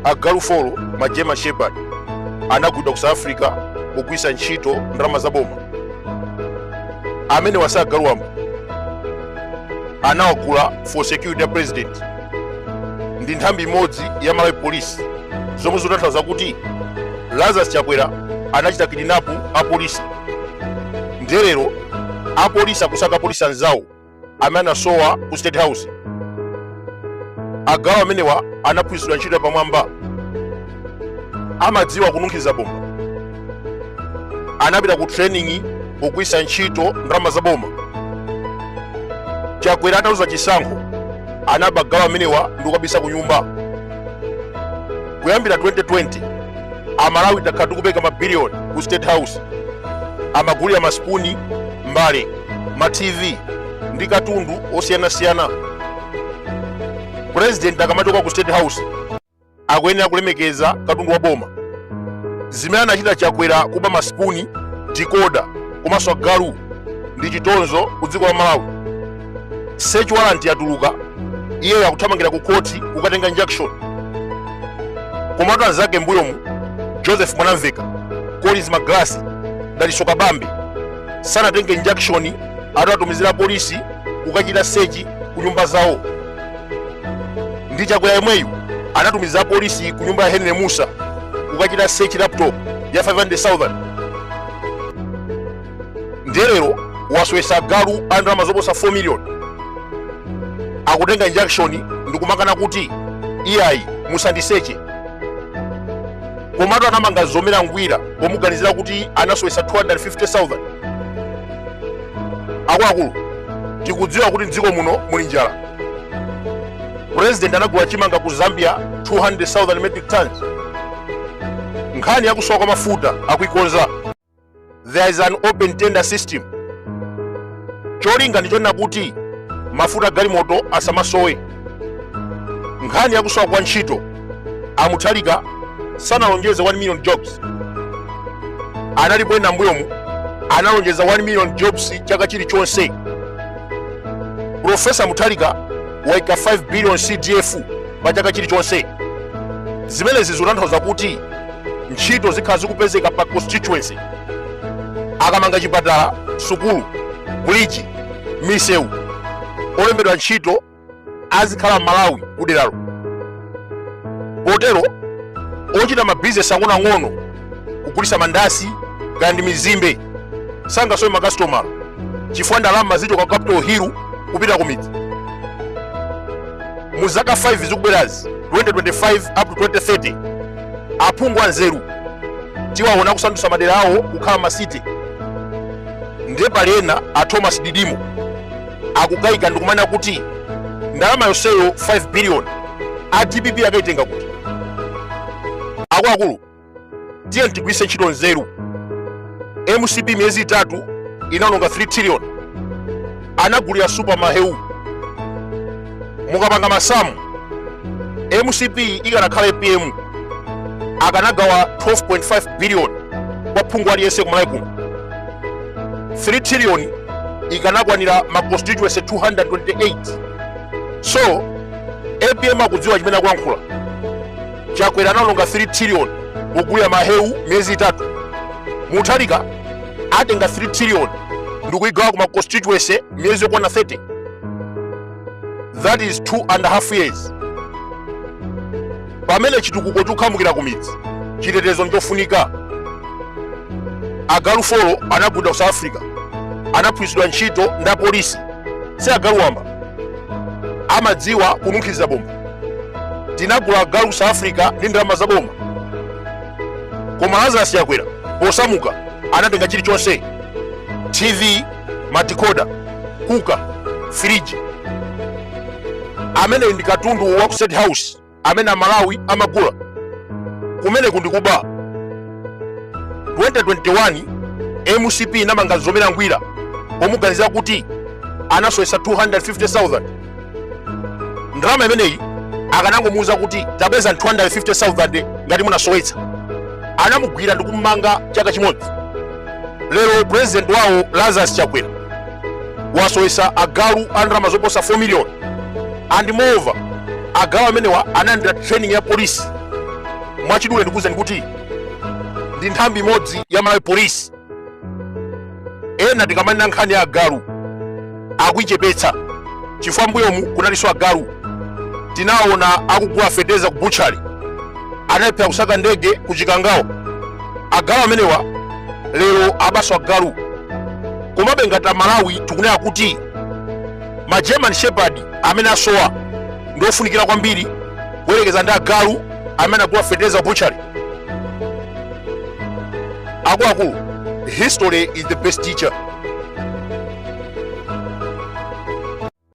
agalu folo ma german shepherd anagulidwa ku south africa kugwiritsa ntchito ndalama za boma amenewa si agalu wamba anawagula for security ya president ndi nthambi imodzi ya malawi police zomwe zotanthauza kuti lazarus chakwera anachita kidinapu apolisi nde lero apolisi akusaka apolisi anzawo amene anasowa ku state house agalu amenewa anaphunzitsidwa ntchito yapamwamba amadziwa kununkhiza bomba anapita ku training kugwiritsa ntchito ndalama za boma chakwera ataluza chisankho anaba agalu amenewa ndi kukabisa ku nyumba kuyambira 2020 amalawi takhala tikupereka mabiliyoni ku state house amagulira masipuni mbale ma tv ndi katundu osiyanasiyana president akamachoka ku state house akuyenera kulemekeza katundu wa boma zimene anachita chakwera kuba masipuni dikoda komanso agalu ndi chitonzo ku dziko la malawi search warrant yatuluka iyeyo akuthamangira ku khoti kukatenga injunction komatu anzake mbuyomu joseph mwanamveka collins magalasi dalitso kabambe sanatenge injunction atawatumizira apolisi kukachita sechi ku nyumba zawo ndi chakwera yemweyu anatumiza apolisi ku nyumba ya henry musa kukachita sechi laptop ya 500000 ndiye lero wasowetsa agalu a ndalama zoposa 4 million akutenga injunction ndikumakana kuti iyayi musandiseche komatu anamanga mzomera ngwira pomuganizira kuti anasowesa 250,000 akuluakulu tikudziwa kuti mdziko muno muli njala president anagula chimanga ku zambia 200,000 metric tons nkhani yakusowa kwa mafuta akuikonza there is an open tender system cholinga ndichonena kuti mafuta agalimoto asamasowe nkhani yakusowa kwa ntchito amuthalika sanalonjeze 1 million jobs analipo ena mbuyomu analonjeza 1 million jobs chaka chilichonse profesa muthalika waika 5 billion cdf pa chaka chilichonse zimenezi zikutanthauza kuti ntchito zikhala zikupezeka pa constituency akamanga chipatala sukulu buliji misewu olembedwa ntchito azikhala malawi kuderalo potero ochita mabizinesi ang'onoang'ono kugulisa mandasi kaya ndi mizimbe sangasowe makasitoma chifukwa ndalama zichoka ku capital hill kupita ku midzi mu zaka 5 zikubwerazi 2025 up to 2030 aphungu anzeru tiwaona kusandutsa madera awo kukhala masiti ndiye pali ena a thomas didimo akukayika ndikumanena kuti ndalama yonseyo 5 billion a dpp akaitenga kuti akuluakulu tiyeni tigwiritse ntchito nzeru mcp miyezi itatu inaononga 3 trillion anagulira supa maheu mukapanga masamu mcp ikanakhala apm akanagawa 12.5 billion kwa phungu aliyense kumalawi kuno 3 trillion ikanakwanira ma constituency 228 so apm akudziwa chimene akuyankhula chakwera anaononga 3 trillion kugulira mahewu miyezi itatu mutharika atenga 3 trillion ndikuigawa kuma constituency miyezi yokwana 30 that is two and a half years pamene chitukuko chikukhamukira ku midzi chitetezo nchofunika agalu folo anagulidwa ku south africa anaphunzitsidwa ntchito ndi apolisi si agalu wamba amadziwa kununkhiza bomba tinagula agalu ku south africa ndi ndalama za boma koma lazarus chakwera posamuka anatenga chilichonse tv madikoda kuka firiji amene ndi katundu wa ku state house amene amalawi amagula kumeneku ndikuba 2021 mcp inamanga zomera ngwira pomuganizira kuti anasowetsa 250000 ndalama imeneyi akanangomuuza kuti tabweza 250,000 ngati munasowetsa anamugwira ndi kumumanga chaka chimodzi lero president wawo lazarus chakwera wasowetsa agalu a ndalama zoposa 4 million and moreover agalu amenewa analandira training ya polisi mwachidule ndikuwuzeni kuti ndi nthambi imodzi ya malawi polisi ena tikamanena nkhani ya agalu akuichepetsa chifukwa mbuyomu kunalinso agalu tinaona akugula feteza ku butchali anayilephera kusaka ndege ku chikangawo agalu amenewa lero abaso agalu komabe ngati amalawi tikunena kuti ma german shepherd amene asowa ndi ofunikira kwambiri kuyerekeza ndi agalu amene anagula feteza ku butchali akuluakulu history is the best teacher